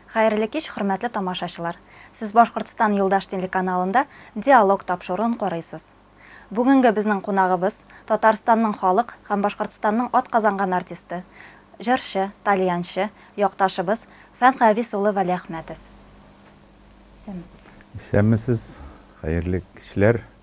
Хәерле кич, хөрмәтле тамашачылар! Сез Башкортстан Юлдаш телеканалында Диалог тапшыруын карыйсыз. Бүгенге безнең кунагыбыз, Татарстанның халык һәм Башкортстанның атказанган артисты, җырчы, тальянчы, якташыбыз Фән Гавис улы Вәлиәхмәтов. Исәнмесез! Исәнмесез! Хәерле кичләр!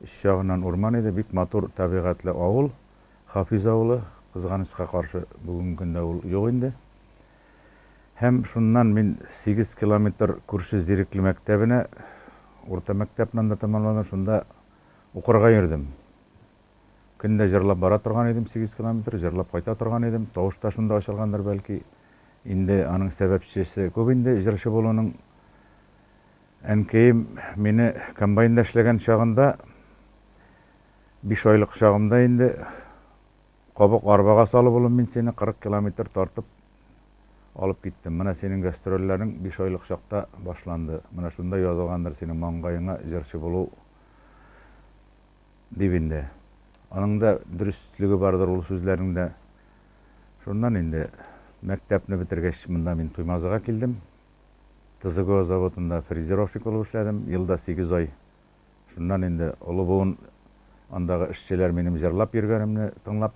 Өч ягыннан урман иде, бик матур табигатьле авыл, Хафиз авылы, кызганычка каршы, бүгенге көндә ул юк инде. Һәм шуннан мин сигез километр күрше Зирекле мәктәбенә, урта мәктәпне анда тәмамладым, шунда укырга йөрдем. Көн дә җырлап бара торган идем, сигез километр, җырлап кайта торган идем, тавыш та шунда ачылгандыр, бәлки. Инде аның сәбәпчесе күп инде җырчы булуның. Әнкәем мине комбайнда эшләгән чагында, биш айлык чагымда инде, Кабык арбага салып, улым, мин сине кырык километр тартып алып киттем. Менә синең гастрольләрең биш айлык чакта башланды. Менә шунда язылгандыр синең маңгаеңа җырчы булу, дип инде. Аның да дөреслеге бардыр ул сүзләрендә. Шуннан инде мәктәпне бетергәч, монда мин Туймазыга килдем. ТЗГО заводында фрезеровщик булып эшләдем, елда сигез ай. Шуннан инде олы буын, андагы эшчеләр минем җырлап йөргәнемне тыңлап,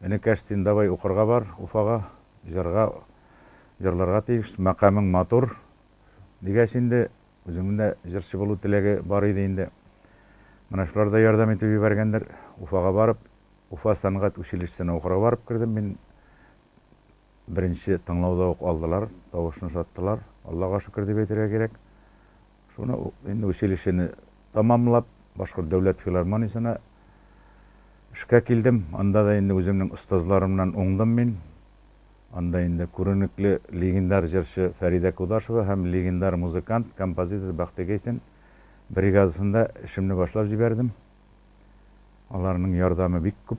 Энекәш, син давай укырга бар Уфага, җырга, җырларга тиеш, мәкамең матур, дигәч инде, үземнең дә җырчы булу теләге бар иде инде. Менә шулар да ярдәм итеп җибәргәндер. Уфага барып, Уфа сәнгать училищесына укырга барып кердем мин. Беренче тыңлауда ук алдылар, тавышны ошаттылар, Аллага шөкер дип әйтергә кирәк. Шуны ук инде училищены тәмамлап, Башкорт дәүләт филармониясенә эшкә килдем. Анда да инде үземнең остазларымнан уңдым мин. Анда инде күренекле легендар җырчы Фәридә Кудашева һәм легендар музыкант, композитор Бәхти Гайсин бригадасында эшемне башлап җибәрдем. Аларның ярдәме бик күп.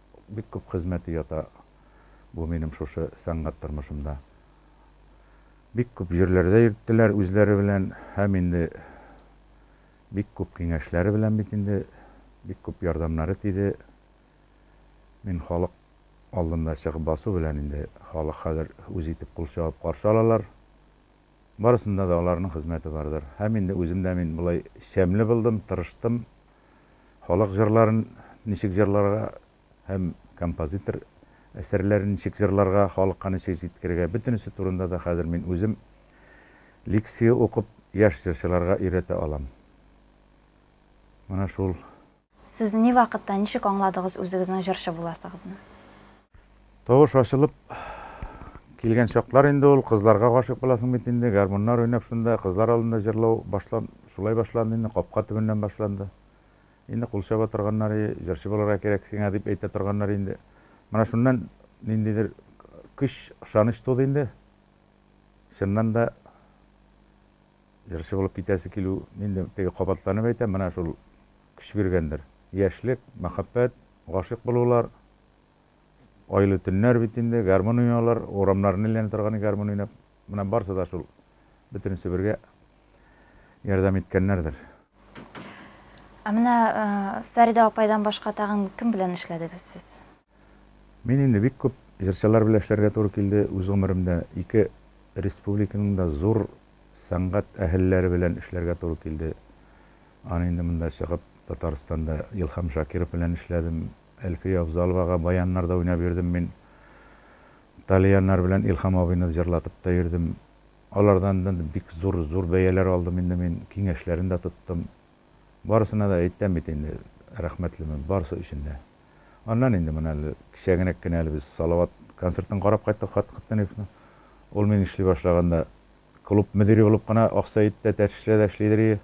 Бик күп хезмәте ята бу минем шушы сәнгать тормышымда. Бик күп җирләрдә йөрттеләр үзләре белән һәм инде бик күп киңәшләре белән бит инде бик күп ярдәмнәре тиде. Мин халык алдында чыгып басу белән инде халык хәзер үз итеп кул чагып каршы алалар. Барысында да аларның хезмәте бардыр. Һәм инде үзем дә мин болай чәмле булдым, тырыштым. Халык җырларын ничек җырларга һәм композитор әсәрләрен ничек җырларга, халыкка ничек җиткерергә, бөтенесе турында да хәзер мин үзем лекция укып, яшь җырчыларга өйрәтә алам. Менә шул. Сез ни вакытта, ничек аңладыгыз үзегезнең җырчы буласыгызны? Тавыш ачылып килгән чаклар инде ул, кызларга гашыйк буласың бит инде, гармуннар уйнап шунда, кызлар алдында җырлау башлан, шулай башланды инде, капка төбеннән башланды. Инде кул чаба торганнар, и, җырчы булырга кирәк сиңа, дип әйтә торганнар инде. Менә шуннан ниндидер көч, ышаныч туды инде. Чыннан да. Җырчы булып китәсе килү, инде теге кабатланып әйтәм, менә шул көч биргәндер. Яшьлек, мәхәббәт, гашыйк булулар, айлы төннәр бит инде, гармун уйнаулар, урамнарны әйләнә торган гармун уйнап, менә барысы да шул бөтенесе бергә ярдәм иткәннәрдер. Ә менә Фәридә апайдан башка тагын кем белән эшләдегез сез? Мин инде бик күп җырчылар белән эшләргә туры килде, үз гомеремдә ике республиканың да зур сәнгать әһелләре белән эшләргә туры килде. Аны инде монда чыгып Татарстанда Илһам Шакиров белән эшләдем, Әлфия Авзаловага баяннарда уйнап йөрдем мин. Талияннар белән Илһам абыйны җырлатып та йөрдем. Алардан да бик зур-зур бәяләр алдым инде мин, киңәшләрен дә тоттым. Барысына да әйтәм бит инде, рәхмәтлемен барысы өчен дә. Аннан инде моны әле кичәгенәк кенә әле без Салават концертын карап кайттык Фатыйх Хаттаниевның. Ул мин эшли башлаганда клуб мөдире булып кына аксаид тә, тәтешле дә эшлидер ие.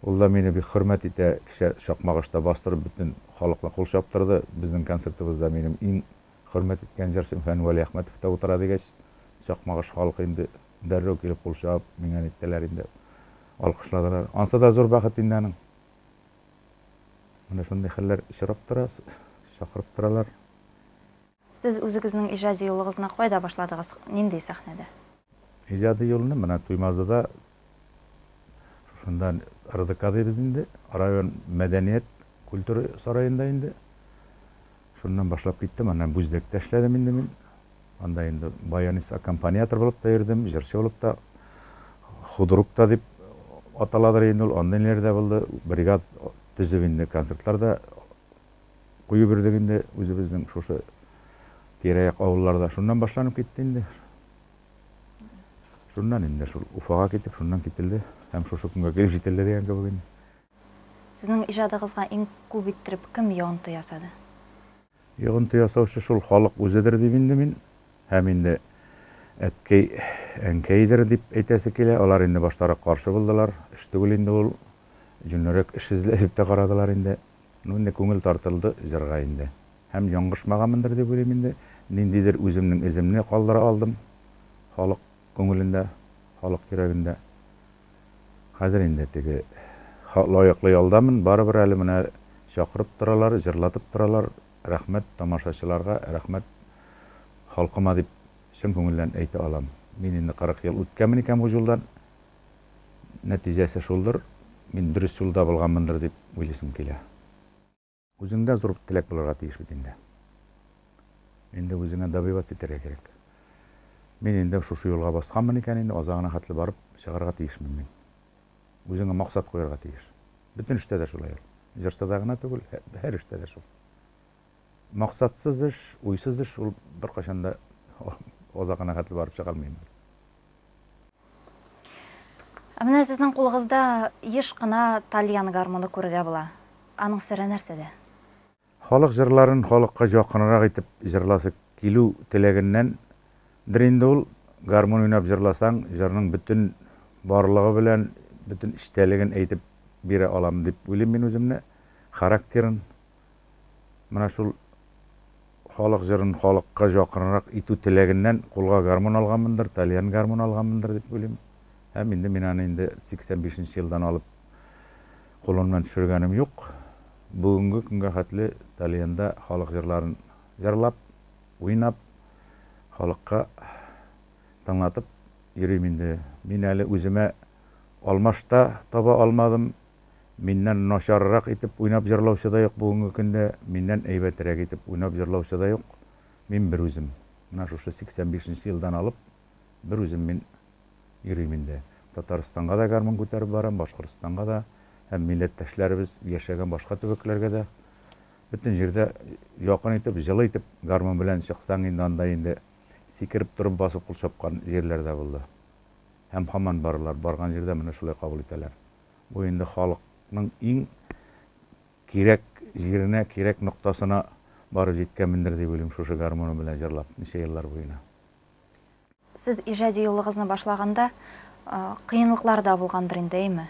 Ул да мине бик хөрмәт итә, кичә Чакмагышта бастырып бөтен халыкны кул чаптырды. Безнең концертыбызда минем иң хөрмәт иткән җырчым Фән Вәлиәхмәтов та утыра дигәч, Чакмагыш халкы инде дәррәү килеп кул чабып, миңа ниттеләр инде. Алкышладылар. Ансы да зур бәхет инде аның. Менә шундый хәлләр очрап тора, чакырып торалар. Сез үзегезнең иҗади юлыгызны кайда башладыгыз, нинди сәхнәдә? Иҗади юлны менә Туймазыда, шушында РДК дибез инде, район мәдәният, культура сараенда инде. Шуннан башлап киттем, аннан Бүздәктә эшләдем инде мин. Анда инде баянист, аккомпаниатор булып та йөрдем, җырчы булып та, худрук та дип аталадыр инде ул, андый ниләр дә булды. Бригад төзеп инде концертлар да куеп йөрдек инде үзебезнең шушы тирә-як авылларда. Шуннан башланып китте инде. Шуннан инде шул Уфага китеп, шуннан кителде һәм шушы көнгә килеп җителде дигән кебек инде. Сезнең иҗадыгызга иң күп иттереп кем йогынты ясады? Йогынты ясаучы шул халык үзедер дим инде мин. Һәм инде әткәй, әнкәйдер дип әйтәсе килә. Алар инде баштарак каршы булдылар. Эш түгел инде ул. Җүнлерәк эш эзлә дип тә карадылар инде. Ну, инде күңел тартылды җырга инде. Һәм яңгышмаганмындыр дип уйлыйм инде. Ниндидер үземнең эземне калдыра алдым халык күңелендә, халык йөрәгендә. Хәзер инде теге лаеклы ялдамын, барыбер әле менә чакырып торалар, җырлатып торалар, рәхмәт тамашачыларга, рәхмәт халкыма дип чын күңелдән әйтә алам. Мин инде 40 ел үткәнмен икән бу җулдан, нәтиҗәсе шулдыр, мин дөрес юлда булганмындыр дип уйлыйсым килә. Үзеңдә зур теләк булырга тиеш бит инде. Инде үзеңә добиваться итәргә кирәк. Мин инде шушы юлга басканмын икән, инде азагына хәтле барып чыгарга тиешмен мин. Үзеңә максат куярга тиеш. Бөтен эштә дә шулай ул. Җырчыда гына түгел, һәр эштә дә шул. Максатсыз эш, уйсыз эш ул беркайчан да азагына хәтле барып чыга алмый инде. Ә менә сезнең кулыгызда еш кына тальян гармуны күрергә була. Аның сере нәрсәдә? Халык җырларын халыкка якынрак итеп җырласы килү теләгеннәндер инде ул. Гармун уйнап җырласаң, җырның бөтен барлыгы белән бөтен эчтәлеген әйтеп бирә алам дип уйлыйм мин үземне, характерын. Менә шул халык җырын халыкка якынрак итү теләгеннән кулга гармун алганмындыр, тальян гармун алганмындыр дип уйлыйм. Һәм инде мин аны инде 85 нче елдан алып кулымнан төшергәнем юк. Бүгенге көнгә хәтле тальянда халык җырларын җырлап, уйнап, халыкка тыңлатып йөрим инде. Мин әле үземә алмаш та таба алмадым. Миннән начаррак итеп уйнап җырлаучы да юк бүгенге көндә, миннән әйбәтерәк итеп уйнап җырлаучы да юк. Мин берүзем. Менә шушы 85 нче елдан алып берүзем мин йөрим инде. Татарстанга да гармун күтәреп барам, Башкортстанга да һәм милләттәшләребез яшәгән башка төбәкләргә дә. Бөтен җирдә якын итеп, җылы итеп гармун белән чыксаң инде, анда инде сикереп торып басып кул чапкан җирләр дә булды. Һәм һаман баралар, барган җирдә менә шулай кабул итәләр. Бу инде халыкның иң кирәк җиренә, кирәк ноктасына барып җиткәнмендер дип уйлыйм шушы гармуным белән җырлап ничә еллар буена. Сез иҗади юлыгызны башлаганда кыенлыклар да булгандыр инде, әйме?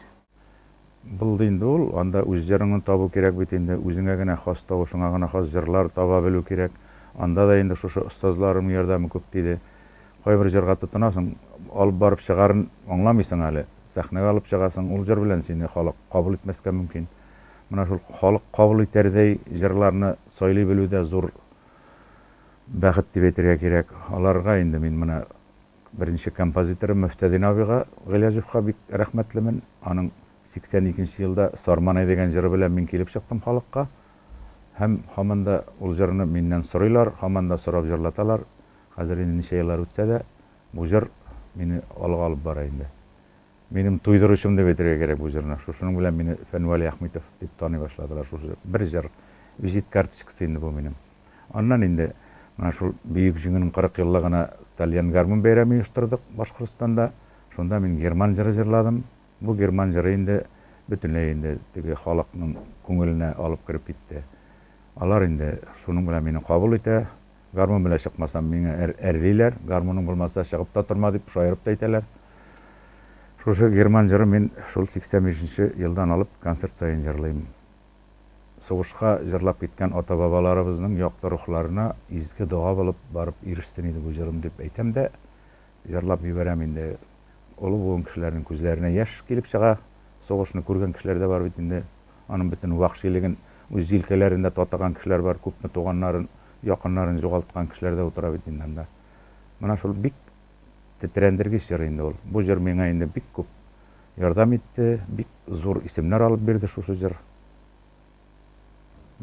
Булды инде ул, анда үз җырыңны табу кирәк бит инде, үзеңә генә хас, тавышыңа гына хас җырлар таба белү кирәк, анда да инде шушы остазларымның ярдәме күп тиде. Кайбер җырга тотынасың, алып барып чыгарын аңламыйсың әле, сәхнәгә алып чыгасың, ул җыр белән сине халык кабул итмәскә мөмкин. Менә шул халык кабул итәрдәй җырларны сайлый белү дә зур бәхет дип әйтергә кирәк. Аларга инде мин менә беренче композиторым Мөфтәдин абыйга Гыйләҗевка бик рәхмәтлемен. Аның 82 нче елда Сарманай дигән җыры белән мин килеп чыктым халыкка. Һәм һаман да ул җырны миннән сорыйлар, һаман да сорап җырлаталар. Хәзер инде ничә еллар үтсә дә, бу җыр мине алга алып бара инде. Минем туйдыручым дип әйтергә кирәк бу җырны. Шушының белән мине Фәнвәли Әхмитов дип таный башладылар. Шушы бер җыр, визит карточкасы инде бу минем. Аннан инде менә шул Бөек Җиңүнең 40 еллыгына Тальян гармун бәйрәме оештырдык Башкортстанда. Шунда мин Герман җыры җырладым. Бу Герман җыры инде бөтенләй инде теге халыкның күңеленә алып кереп китте. Алар инде шуның белән мине кабул итә. Гармун белән чыкмасам, миңа әрлиләр, гармуның булмаса, чыгып та торма, дип шаярып та әйтәләр. Шушы герман җырын мин шул 85 нче елдан алып концерт саен җырлыйм. Сугышка җырлап киткән ата-бабаларыбызның якты рухларына изге дога булып барып ирешсен иде бу җырым, дип әйтәм дә, Җырлап җибәрәм инде. Олы буын кешеләрнең күзләренә яшь килеп чыга. Сугышны күргән кешеләр дә бар бит инде. Аның бөтен вәхшилеген үз җилкәләрендә татыган кешеләр бар. Күпме туганнарын, якыннарын җугалткан кешеләр дә утыра бит инде анда. Менә шул бик тетрәндергеч җыр инде ул. Бу җыр миңа инде бик күп ярдәм итте, бик зур исемнәр алып бирде шушы җыр.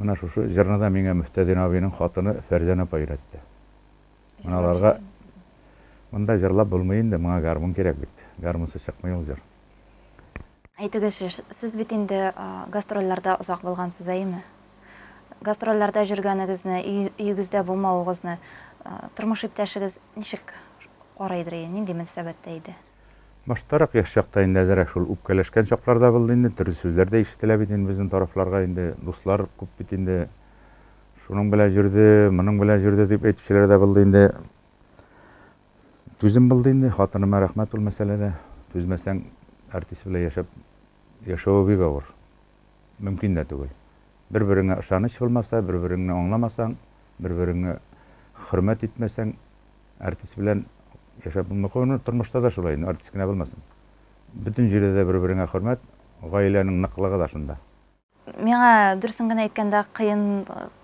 Менә шушы җырны да миңа Мөфтәдин абыйның хатыны Фәрзәнә апа өйрәтте. Аларга монда җырлап булмый инде, моңа гармун кирәк бит. Гармунсыз чыкмый ул җыр. Әйтегезче, сез бит инде гастрольләрдә озак булгансыз, әйеме? Гастрольләрдә җөргәнегезне, өегездә булмавыгызны тормыш иптәшегез ничек карыйдыр иде, нинди мөнсәбәттә иде? Баштарак, яшь чакта инде әзерәк шул үпкәләшкән чаклар да булды инде, төрле сүзләр дә ишетелә бит инде безнең тарафларга инде, дуслар күп бит инде, Шуның белән җөрде, моның белән җөрде дип әйтүчеләр дә булды инде. Түзем булды инде, хатыныма рәхмәт ул мәсьәләдә. Түзмәсәң, артист белән яшәп яшәве бик авыр. Мөмкин дә түгел. Бер-береңә ышаныч булмаса, бер-береңне аңламасаң, бер-береңне хөрмәт итмәсәң, артист белән яшәп булмый. Куюны тормышта да шулай инде, артист кенә булмасын. Бөтен җирдә дә бер-береңә хөрмәт, гаиләнең ныклыгы да шунда. Миңа дөресен генә әйткәндә кыен,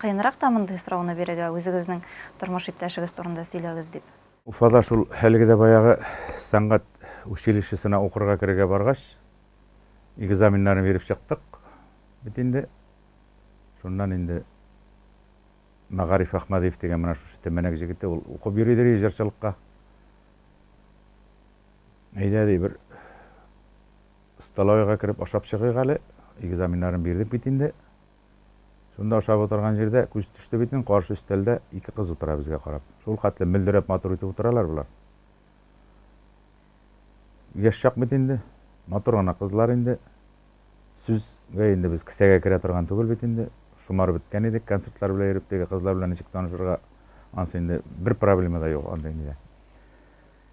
кыенрак та мондый сорауны бирергә, үзегезнең тормыш иптәшегез турында сөйләгез дип. Уфада шул хәлге дә баягы сәнгать училищесына укырга керергә баргач, экзаменнарны биреп чыктык бит инде. Шуннан инде Мәгариф Әхмәдиев дигән менә шушы Тәмәнәк җегете, ул укып йөри ди җырчылыкка. Әйдә ди бер. Столовойга кереп ашап чыгыйк әле, экзаменнарын бирдек бит инде. Шунда ашап утырган җирдә күз төште бит мин, каршы өстәлдә ике кыз утыра безгә карап. Шул хәтле мөлдерәп матур итеп утыралар болар. Яшь чак бит инде, матур гына кызлар инде. Сүзгә инде без кесәгә керә торган түгел бит инде. Шомарып беткән идек, концертлар белән йөреп, теге кызлар белән ничек танышырга, ансы инде бер проблема да юк андый нидә.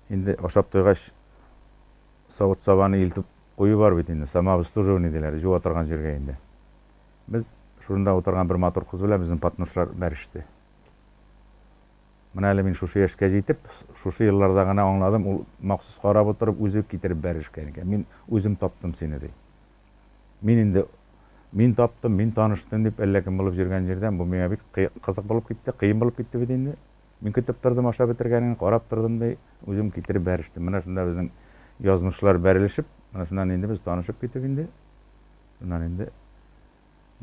Инде ашап туйгач, савыт-сабаны илтеп кую бар бит инде, самообслуживание диләр, җуа торган җиргә инде. Без, шунда утырган бер матур кыз белән безнең Патнушлар бәреште. Менә әле мин шушы яшькә җитеп, шушы елларда гына аңладым, ул махсус карап утырып, үзе китереп бәрешкән икән. Мин үзем таптым сине, ди. Мин инде, мин таптым, мин таныштым дип, әллә кем булып йөргән җирдән, бу миңа бик кыек, кызык булып китте, кыен булып китте бит инде. Мин көтеп тордым, ашап бетергәнен карап тордым, ди. Үзем китереп бәрештем. Менә шунда безнең язмышлар бәрелешеп, менә шуннан инде без танышып китеп инде. Шуннан инде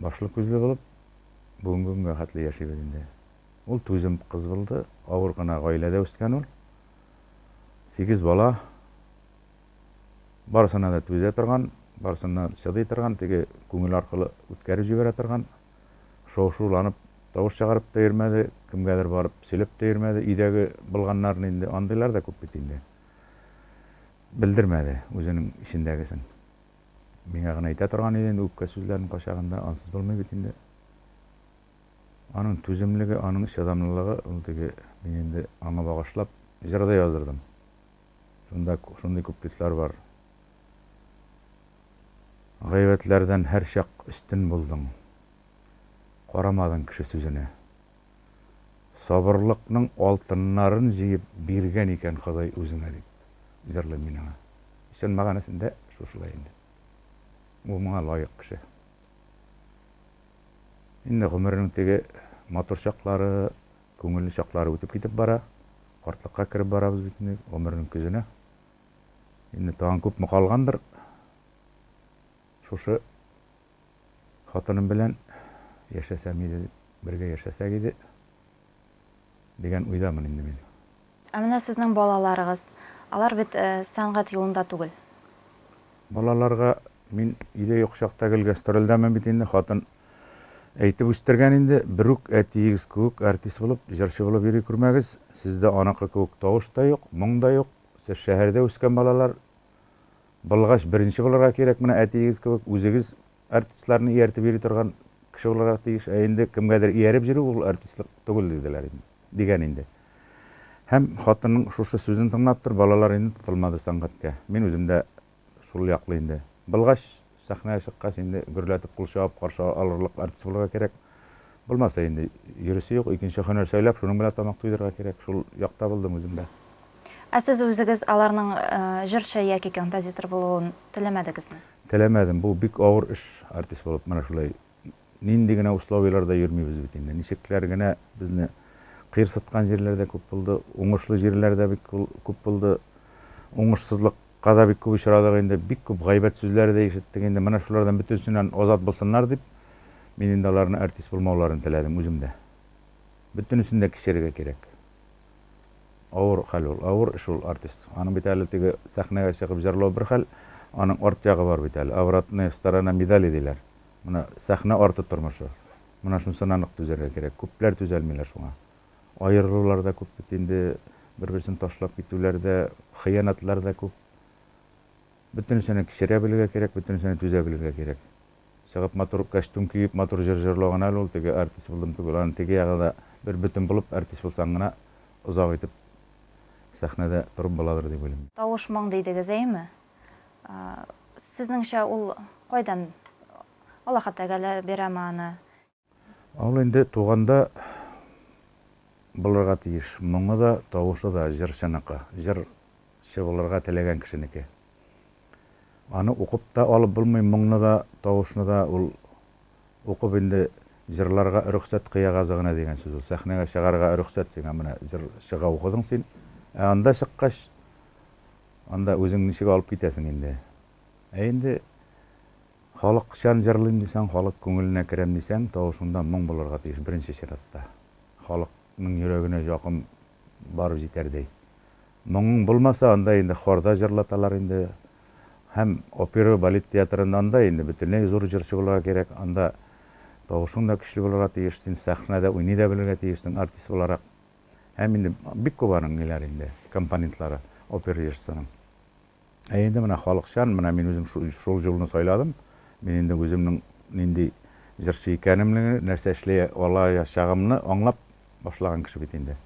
башлы-күзле булып, бүгенге көнгә хәтле яшибез инде. Ул түзем кыз булды, авыр гына гаиләдә үскән ул. Сигез бала. Барысына да түзә торган, барысыннан чыдый торган, теге күңел аркылы үткәреп җибәрә торган. шау-шуланып тавыш чыгарып та йөрмәде, кемгәдер барып сөйләп тә йөрмәде, өйдәге былганнарны инде, андыйлар да күп бит инде. Белдермәде үзенең эчендәгесен. Миңа гына әйтә торган иде инде үпкә сүзләрен кайчагында, ансыз булмый бит инде. Аның түземлеге, аның чыдамлылыгы, ул теге, мин инде аңа багышлап җыр да яздырдым. Шунда шундый куплетлар бар. Гайбәтләрдән һәрчак өстен булдың, карамадың кеше сүзенә. Сабырлыкның алтыннарын җыеп биргән икән Ходай үзеңә, дип җырлыйм мин аңа. Чын мәгънәсендә шушылай инде. Ул моңа лаек кеше. Инде гомеренең теге матур чаклары, күңелле чаклары үтеп китеп бара. Картлыкка кереп барабыз бит инде, гомернең көзенә. Инде тагын күпме калгандыр шушы хатыным белән яшәсәм иде, бергә яшәсәк иде дигән уйдамын инде мин. Ә менә сезнең балаларыгыз, алар бит сәнгать юлында түгел. Балаларга мин өйдә юк чакта гел гастрольдәмен бит инде, хатын әйтеп үстергән инде, берүк әтиегез кеүек артист булып, җырчы булып йөри күрмәгез, сездә аныкы кеүек тавыш та юк, моң да юк. Сез шәһәрдә үскән балалар былгач беренче булырга кирәк, менә әтиегез кебек үзегез артистларны ияртеп йөри торган кеше булырга тиеш, ә инде кемгәдер ияреп йөрү ул артистлык түгел диделәр инде, дигән инде. Һәм хатынның шушы сүзен тыңлап тор, балалар инде тотылмады сәнгатькә. Мин үзем дә Шул яклы инде. Былгач, сәхнәгә чыккач, инде гөрләтеп кул чабып каршы алырлык артист булырга кирәк. Булмаса, инде йөрисе юк, икенче һөнәр сайлап, шуның белән тамак туйдырырга кирәк. Шул якта булдым үзем дә. Ә сез үзегез аларның җырчы яки композитор булуын теләмәдегезме? Теләмәдем. Бу бик авыр эш, артист булып менә шулай Нинди генә условиеләрдә йөрмибез бит инде. Ничекләр генә безне кыерсыткан җирләр дә күп булды, уңышлы җирләр дә бик күп булды. Уңышсызлыкка да бик күп очрадык инде, бик күп гайбәт сүзләре дә ишеттек инде. Менә шулардан бөтенсеннән азат булсыннар дип, мин инде аларны артист булмауларын теләдем үзем дә. Бөтенесен дә кичерергә кирәк. Авыр хәл ул, авыр эш ул артист. Аның бит әле теге сәхнәгә чыгып җырлау бер хәл, аның арт ягы бар бит әле, обратная сторона медали диләр. Менә сәхнә арты тормышы. Менә шунсыннан ук түзәргә кирәк. Күпләр түзәлмиләр шуңа. Аерылулар да күп бит инде, бер-берсен ташлап китүләр дә, хыянатлар да күп. Бөтенесенә кичерә белергә кирәк, бөтенесенә түзә белергә кирәк. Чыгып матур кәчтүм киеп, матур җыр җырлау гына әле ул, теге артист булдым түгел. Аны теге ягы да бер бөтен булып, артист булсаң гына озак итеп сәхнәдә торып буладыр дип уйлыйм. Тавыш моң дидегез, әйеме? Сезнеңчә, ул кайдан Аллаһы Тәгалә бирәме аны? Ул инде туганда булырга тиеш. Моңы да, тавышы да җырчыныкы, җырчы булырга теләгән кешенеке. Аны укып та алып булмый, моңны да, тавышны да. Ул укып инде җырларга рөхсәт кыягазы гына дигән сүз ул. Сәхнәгә чыгарга рөхсәт сиңа, менә җыр чыга укыдың син. Ә анда чыккач, Анда үзең ничек алып китәсең инде. Ә инде халыкчан җырлыйм дисәң, халык күңеленә керәм дисәң, тавышыңда моң булырга тиеш, беренче чиратта. Халыкның йөрәгенә якын барып җитәрдәй. Моңың булмаса, анда инде хорда җырлаталар инде. Һәм опера, балет театрында анда инде бөтенләй зур җырчы булырга кирәк. Анда тавышың да көчле булырга тиеш, син сәхнәдә уйный да белергә тиешсең, артист буларак. Һәм инде бик күп аның ниләр инде, компонентлары, опер ижсының. Ә инде менә халыкчан, менә мин үзем шул җулны сайладым. Мин инде үземнең нинди җырчы икәнемне, нәрсә эшли алаячагымны аңлап башлаган кеше бит инде.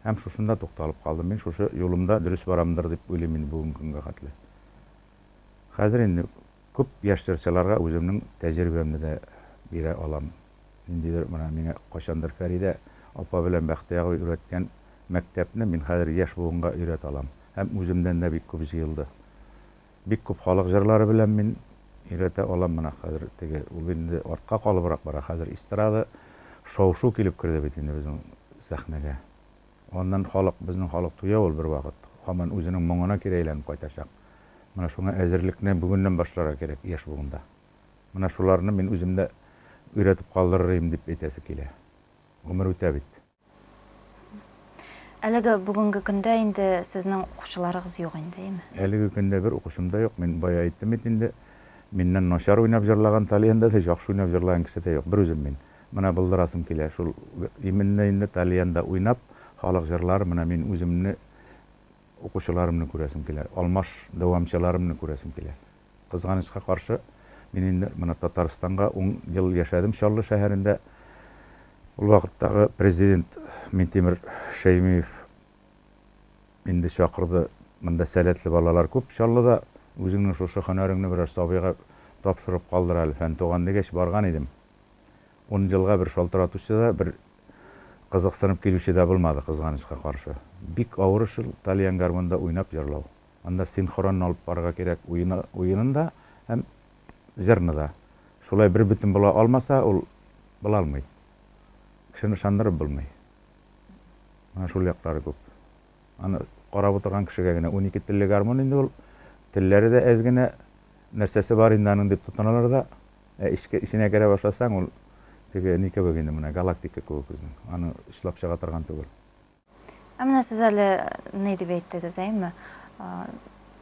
Һәм шушында тукталып калдым. Мин шушы юлымда дөрес барамдыр дип уйлыйм инде бүгенге көнгә хәтле. Хәзер инде күп яшь җырчыларга үземнең тәҗрибәмне дә бирә алам. Ниндидер менә миңа кайчандыр Фәридә апа белән Бәхтияр абый өйрәткән мәктәпне мин хәзер яшь буынга өйрәтә алам. Һәм үземнән дә бик күп җыелды. Бик күп халык җырлары белән мин өйрәтә алам менә хәзер теге, ул инде артка калыбрак бара, хәзер эстрада, шау-шу килеп керде бит инде безнең сәхнәгә. Аннан халык, безнең халык туя ул бервакыт, һаман үзенең моңына кире әйләнеп кайтачак. Менә шуңа әзерлекне бүгеннән башларга кирәк яшь буында. Менә шуларны мин үзем дә өйрәтеп калдырыр идем дип әйтәсе килә. Гомер үтә бит. Әлеге бүгенге көндә инде сезнең укучыларыгыз юк инде, име? Әлеге көндә бер укучым да юк. Мин бая әйттем бит инде. Миннән начар уйнап җырлаган Талиянда да, яхшы уйнап җырлаган кеше дә юк. Бер үзем мин. Менә булдырасым килә. Шул именно инде Талиянда уйнап, халык җырлары менә мин үземне, укучыларымны күрәсем килә. Алмаш дәвамчыларымны күрәсем килә. Кызганычка каршы, мин инде моны Татарстанга ун ел яшәдем Чаллы шәһәрендә. Ул вакыттагы президент Минтимер Шәймиев инде чакырды, монда сәләтле балалар күп Чаллыда, үзеңнең шушы һөнәреңне берәр сабыйга тапшырып калдыр әле, фән туган дигәч, барган идем. Ун елга бер шалтыратучы да, бер кызыксынып килүче дә булмады, кызганычка каршы. Бик авыр эш ул тальян-гармунда уйнап җырлау. Анда синхронно алып барырга кирәк уены, уенын да һәм җырны да. Шулай бербөтен була алмаса, ул була алмый. Кешене ышандырып булмый. Менә шул яклары күп. Аны карап утырган кешегә генә унике телле гармун инде ул. Телләре дә әз генә, нәрсәсе бар инде аның дип тотыналар да. Ә эчке, эченә керә башласаң, ул теге ни кебек инде, менә галактика кебек үзенең. Аны чылап чыга торган түгел. Ә менә сез әле ни дип әйттегез, әйме?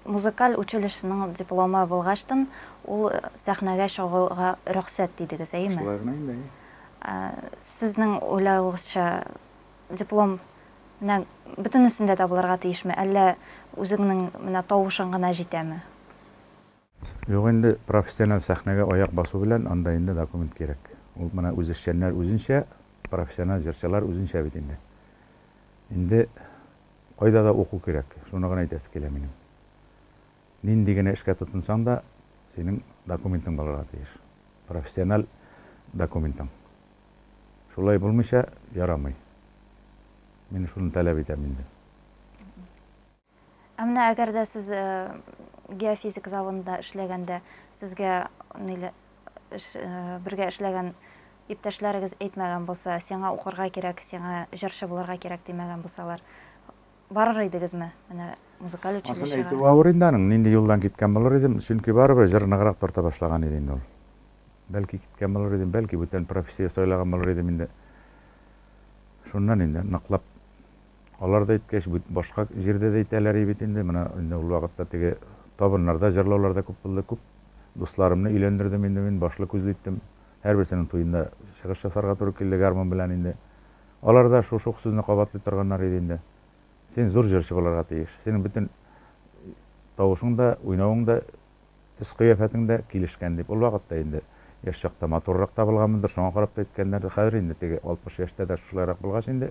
Музыкаль училищеның дипломы булгачтын, ул сәхнәгә чыгуга рөхсәт дидегез, әйме? Шулай гына инде, әйе. Сезнең уйлавыгызча, диплом менә бөтенесендә дә булырга тиешме, әллә үзеңнең менә тавышың гына җитәме? Юк инде, профессиональ сәхнәгә аяк басу белән анда инде документ кирәк. Ул менә үзешчәннәр үзенчә, профессиональ җырчылар үзенчә бит инде. Инде кайда да уку кирәк, шуны гына әйтәсе килә минем. Нинди генә эшкә тотынсаң да, синең документың булырга тиеш. Профессиональ документың. Шулай булмыйча ярамый. Мин шуны таләп итәм инде. Ә менә әгәр дә сез э, геофизик заводында эшләгәндә сезгә ниле эш, э, бергә эшләгән иптәшләрегез әйтмәгән булса, сиңа укырга кирәк, сиңа җырчы булырга кирәк димәгән булсалар, барыр идегезме? Менә музыкаль Асын әйтү училищега. авыр инде аның, нинди юлдан киткән булыр идем, чөнки барыбер җыр ныграк тарта башлаган иде инде ул. Бәлки киткән булыр идем, бәлки бүтән профессия сайлаган булыр идем инде. Шуннан инде ныклап Алар да әйткәч, бит башка җирдә дә әйтәләр и бит инде, менә инде ул вакытта теге табыннарда җырлаулар да күп булды, күп дусларымны өйләндердем инде мин, башлы-күзле иттем, һәрберсенең туенда чыгыш ясарга туры килде гармун белән инде. Алар да шушы ук сүзне кабатлый торганнар иде инде, Син зур җырчы булырга тиеш, синең бөтен тавышың да, уйнавың да Төс-кыяфәтең дә килешкән, дип, ул вакытта инде яшь чакта матуррак табылганмындыр, шуңа карап та әйткәннәрдер, хәзер инде теге алтмыш яшьтә дә шушылайрак булгач инде.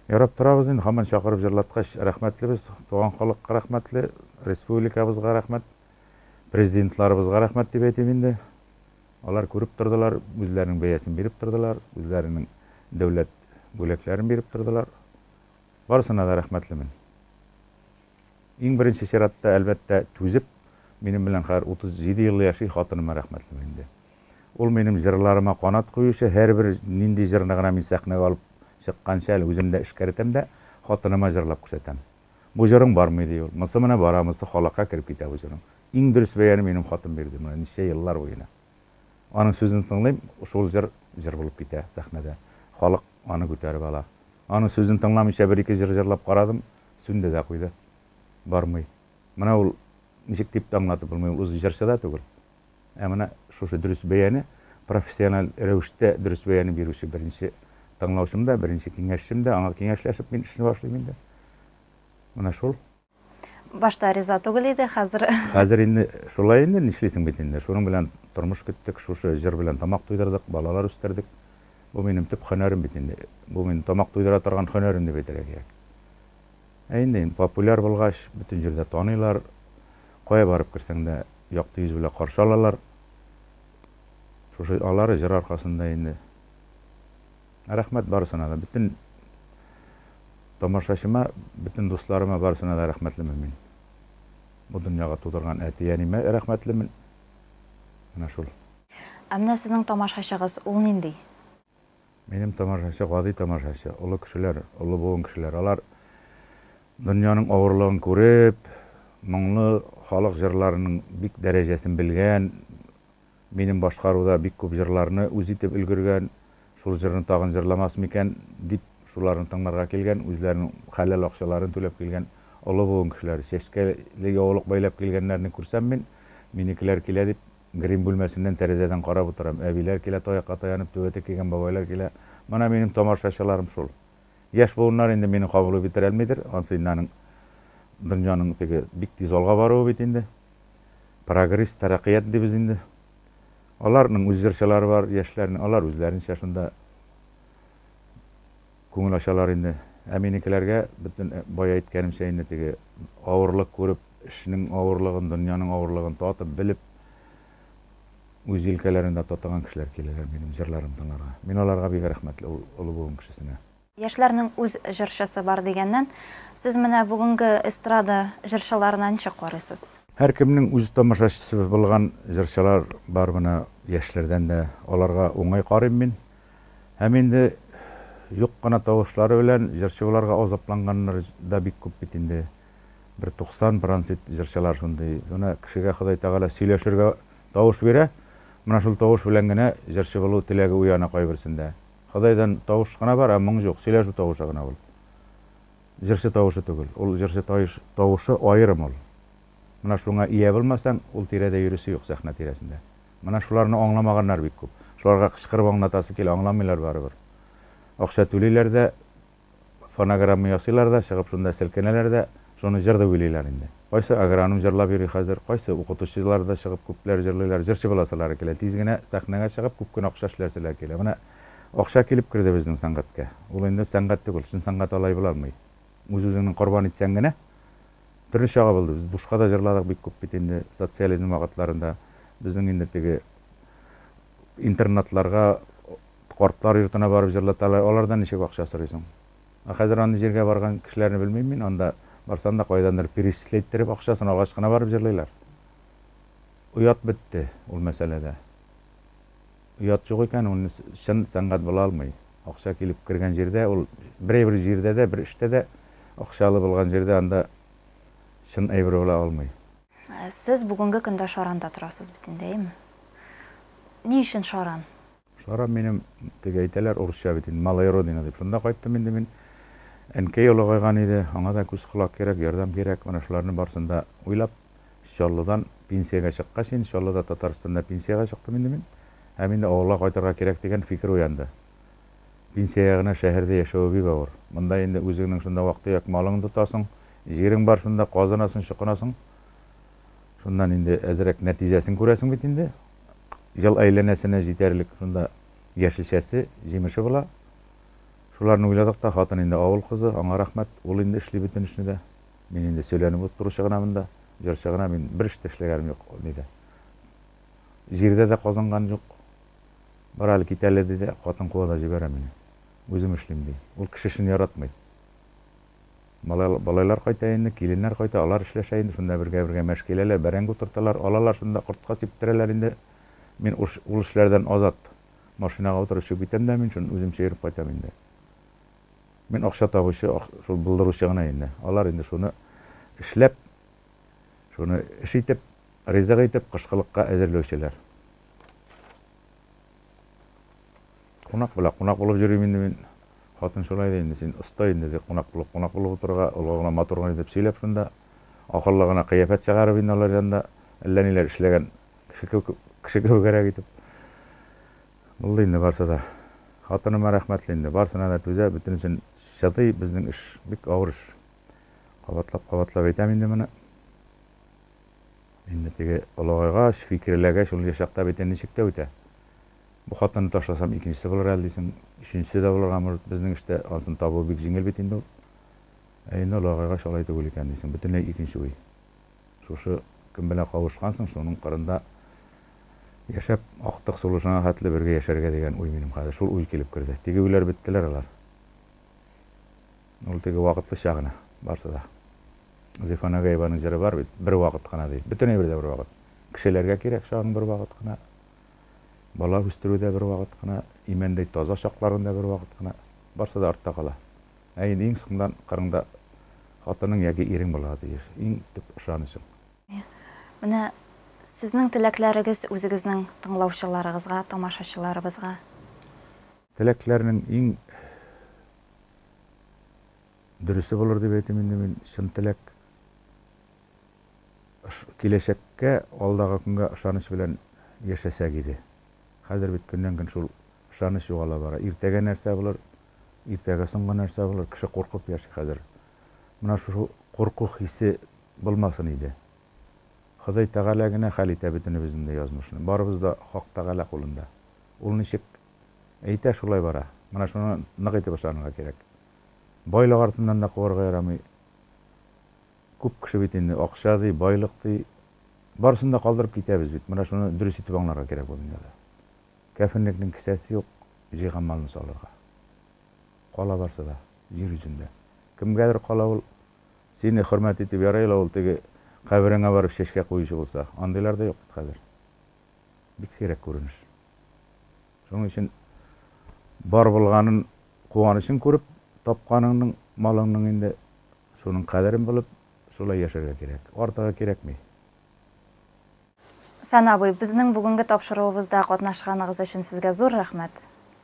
Ярап торабыз инде, һаман чакырып җырлаткач, рәхмәтлебез, туган халыкка рәхмәтле, республикабызга рәхмәт, президентларыбызга рәхмәт дип әйтим инде. Алар күреп тордылар, үзләренең бәясен биреп тордылар, үзләренең дәүләт бүләкләрен биреп тордылар. Барысына да рәхмәтлемен. Иң беренче чиратта, әлбәттә, түзеп, минем белән хәзер 37 ел яши, хатыныма рәхмәтлемен инде. Ул минем җырларыма канат куючы, һәрбер нинди җырны гына мин сәхнәгә алып чыкканчы, әле үзем дә эшкәртәм дә, хатыныма җырлап күрсәтәм. Бу җырың бармый, ди ул. Монысы менә бара, монысы халыкка кереп китә бу җырың. Иң дөрес бәяне минем хатын бирде, менә ничә еллар буена. Аның сүзен тыңлыйм, шул җыр җыр булып китә сәхнәдә. Халык аны күтәреп ала. Аның сүзен тыңламыйча бер-ике җыр җырлап карадым, сүнде дә куйды. Бармый. Менә ул, ничек дип тә аңлатып булмый, ул үзе җырчы да түгел. Ә менә шушы дөрес бәяне, профессиональ рәвештә дөрес бәяне бирүче беренче тыңлаучым да, беренче киңәшчем дә, аңа киңәшләшеп мин эшне башлыйм инде. Менә шул. Башта риза түгел иде, хәзер. Хәзер инде шулай инде, нишлисең бит инде. Шуның белән тормыш көттек, шушы җыр белән тамак туйдырдык, балалар үстердек. Бу минем төп һөнәрем бит инде. Бу минем тамак туйдыра торган һөнәрем дип әйтергә кирәк. Ә инде популяр булгач, бөтен җирдә таныйлар. Кая барып керсәң дә, якты йөз белән каршы алалар. Шушы алары җыр аркасында инде. Рәхмәт барысына да, бөтен тамашачыма, бөтен дусларыма, барысына да рәхмәтлемен мин. Бу дөньяга тудырган әти-әниемә рәхмәтлемен. Менә шул. Ә менә сезнең тамашачыгыз, ул нинди? Минем тамашачы, гади тамашачы, олы кешеләр, олы буын кешеләр. Алар дөньяның авырлыгын күреп, моңлы халык җырларының бик дәрәҗәсен белгән, Минем башкаруда бик күп җырларны үз итеп өлгергән, шул җырны тагын җырламас микән, дип, шуларны тыңларга килгән, үзләренең хәләл акчаларын түләп килгән олы буын кешеләре. Чәчкәле яулык бәйләп килгәннәрне күрсәм мин, минекеләр килә дип, грим бүлмәсеннән тәрәзәдән карап утырам. Әбиләр килә, таякка таянып, түбәтәй кигән бабайлар килә. Менә минем тамашачыларым шул. Яшь буыннар инде мине кабул итеп бетерәлмидер, ансы инде аның дөньяның теге бик тиз алга баруы бит инде. Прогресс, тәрәккыят дибез инде. Аларның үз җырчылары бар, яшьләрнең, алар үзләренчә шунда күңел ачалар инде. Ә минекеләргә бөтен бая әйткәнемчә инде теге авырлык күреп, эшнең авырлыгын, дөньяның авырлыгын татып, белеп, үз җилкәләрендә тотыган кешеләр киләләр минем җырларым тыңларга. Мин аларга бик рәхмәтле ул олы буын кешесенә. Яшьләрнең үз җырчысы бар дигәннән, сез менә бүгенге эстрада җырчыларына ничек карыйсыз? Һәркемнең үз тамашачысы булган җырчылар бар менә яшьләрдән дә, аларга уңай карыйм мин. Һәм инде юк кына тавышлары белән җырчы буларга азапланганнар да бик күп бит инде. бер туксан бронзит җырчылар шундый гына кешегә Ходай Тәгалә сөйләшергә тавыш бирә, менә шул тавыш белән генә җырчы булу теләге уяна кайберсендә. Ходайдан тавыш кына бар, ә моң юк, сөйләшү тавышы гына ул. Җырчы тавышы түгел, ул җырчы таеш тавышы аерым ул. Менә шуңа ия булмасаң, ул тирәдә йөрисе юк, сәхнә тирәсендә. Менә шуларны аңламаганнар бик күп. Шуларга кычкырып аңлатасы килә, аңламыйлар барыбер. Акча түлиләр дә. Фонограмма ясыйлар да, чыгып шунда селкенәләр дә, шуны җыр дип уйлыйлар инде. Кайсы агроном җырлап йөри хәзер, кайсы укытучылар да чыгып күпләр җырлыйлар. Җырчы буласылары килә, тиз генә сәхнәгә чыгып, күп кенә акча эшләселәре килә. Менә акча килеп керде безнең сәнгатькә. Ул инде сәнгать түгел, чын сәнгать алай була алмый. Үз-үзеңне корбан итсәң генә. Төрле чага булды. Без бушка да җырладык бик күп бит инде социализм вакытларында. Безнең инде теге интернатларга, Картлар йортына барып җырлаталар, алардан ничек акча сорыйсың? Ә хәзер андый җиргә барган кешеләрне белмим мин, анда барсаң да кайдандыр перечисләйттереп акча сорагач кына барып җырлыйлар. Оят бетте ул мәсьәләдә. Оят юк икән, ул чын сәнгать була алмый. Акча килеп кергән җирдә ул, берәйбер җирдә дә, бер эштә дә акчалы булган җирдә анда чын әйбер була алмый. Сез бүгенге көндә Шаранда торасыз бит инде, әйеме? Ни өчен Шаран? Шарап минем, теге әйтәләр, урысча бит инде, малая родина дип, шунда кайттым инде мин. Әнкәй олыгайган иде, аңа да күз-колак кирәк, ярдәм кирәк, менә шуларны барысын да уйлап, Чаллыдан пенсиягә чыккач, инде Чаллыда, Татарстанда пенсиягә чыктым инде мин. Һәм инде авылга кайтырга кирәк дигән фикер уянды. Пенсиягә генә шәһәрдә яшәве бик авыр. Монда инде үзеңнең шунда вак-төяк малыңны тотасың, җирең бар шунда, казынасың, чокынасың. Шуннан инде әзрәк нәтиҗәсен күрәсең бит инде. ел әйләнәсенә җитәрлек шунда яшелчәсе, җимеше була. Шуларны уйладык та, хатын инде авыл кызы, аңа рәхмәт, ул инде эшли бөтен эшне дә. Мин инде сөйләнеп утыручы гына монда, җырчы гына, мин бер эш тә эшләгәнем юк, ди дә. Җирдә дә казынган юк. Бар әле, кит әле, ди дә, хатын куа да җибәрә мине. Үзем эшлим, ди. Ул кеше эшен яратмый. Малайлар, балайлар кайта инде, киленнәр кайта, алар эшләшә инде, шунда бергә-бергә мәш киләләр, бәрәңге утырталар, алалар шунда, кортка сиптерәләр инде. Мин уш, ул эшләрдән азат. Машинага утырып чыгып китәм дә мин шуны үземчә йөреп кайтам инде. Мин акча табучы, ак, шул булдыручы гына инде. Алар инде шуны эшләп, шуны эш итеп, ризык итеп, кышкылыкка әзерләүчеләр. Кунак белә, кунак булып йөрим инде мин. Хатын шулай ди инде, син оста инде, ди, кунак булып, кунак булып утырырга, олыга гына, матур гына итеп сөйләп шунда, акыллы гына кыяфәт чыгарып инде алар янында, әллә ниләр эшләгән кеше кебек, кеше кебегрәк итеп. Булды инде барсы да. Хатыныма рәхмәтле инде, барсына да түзә, бөтенесен чыдый, безнең эш бик авыр эш. Кабатлап-кабатлап әйтәм инде моны. Инде теге олыгайгач, фикерләгәч, ул яшь чакта бит ничек тә үтә. Бу хатынны ташласам, икенчесе булыр әле дисең, өченчесе дә булырга может. Безнең эштә ансын табу бик җиңел бит инде ул. Ә инде олыгайгач, алай түгел икән дисең, бөтенләй икенче уй. Шушы кем белән кавышкансың, шуның кырында яшәп, актык сулышыңа хәтле бергә яшәргә дигән уй минем хәзер. Шул уй килеп керде. Теге уйлар беттеләр алар. Ул теге вакытлыча гына, барысы да. Зифа Нагаеваның җыры бар бит, бер вакыт кына ди. Бөтен әйбер дә бер вакыт. Кешеләргә кирәк чагың бер вакыт кына. Бала үстерү дә бер вакыт кына, имәндәй таза чакларың да бер вакыт кына. Барысы да артта кала. Ә инде иң соңдан кырыңда хатының яки ирең булырга тиеш. Иң төп ышанычың. Менә сезнең теләкләрегез үзегезнең тыңлаучыларыгызга, тамашачыларыбызга? Теләкләрнең иң Дөресе булыр дип әйтим инде мин, чын теләк, киләчәккә, алдагы көнгә ышаныч белән яшәсәк иде. Хәзер бит көннән-көн шул ышаныч югала бара. Иртәгә нәрсә булыр, иртәгә соңгы нәрсә булыр, кеше куркып яши хәзер. Менә шушы курку хисе булмасын иде. Ходай Тәгалә генә хәл итә бөтенебезнең дә язмышны. Барыбыз да Хак Тәгалә кулында. Ул ничек Әйтә, шулай бара. Менә шуны нык итеп ышанырга кирәк. Байлык артыннан да куарга ярамый. Күп кеше бит инде акча ди, байлык ди. Барысын да калдырып китәбез бит. Менә шуны дөрес итеп аңларга кирәк бу дөньяда. Кәфенлекнең кесәсе юк, җыйган малны салырга. Кала барсы да, җир йөзендә. Кемгәдер кала ул. Сине хөрмәт итеп ярый ла ул теге кабереңә барып чәчкә куючы булса. Андыйлар да юк бит хәзер. бик сирәк күренеш. Шуның өчен бар булганын куанычын күреп, тапканыңның, малыңның инде шуның кадерен белеп, шулай яшәргә кирәк. Артыгы кирәкми. Фән абый, безнең бүгенге тапшыруыбызда катнашканыгыз өчен сезгә зур рәхмәт.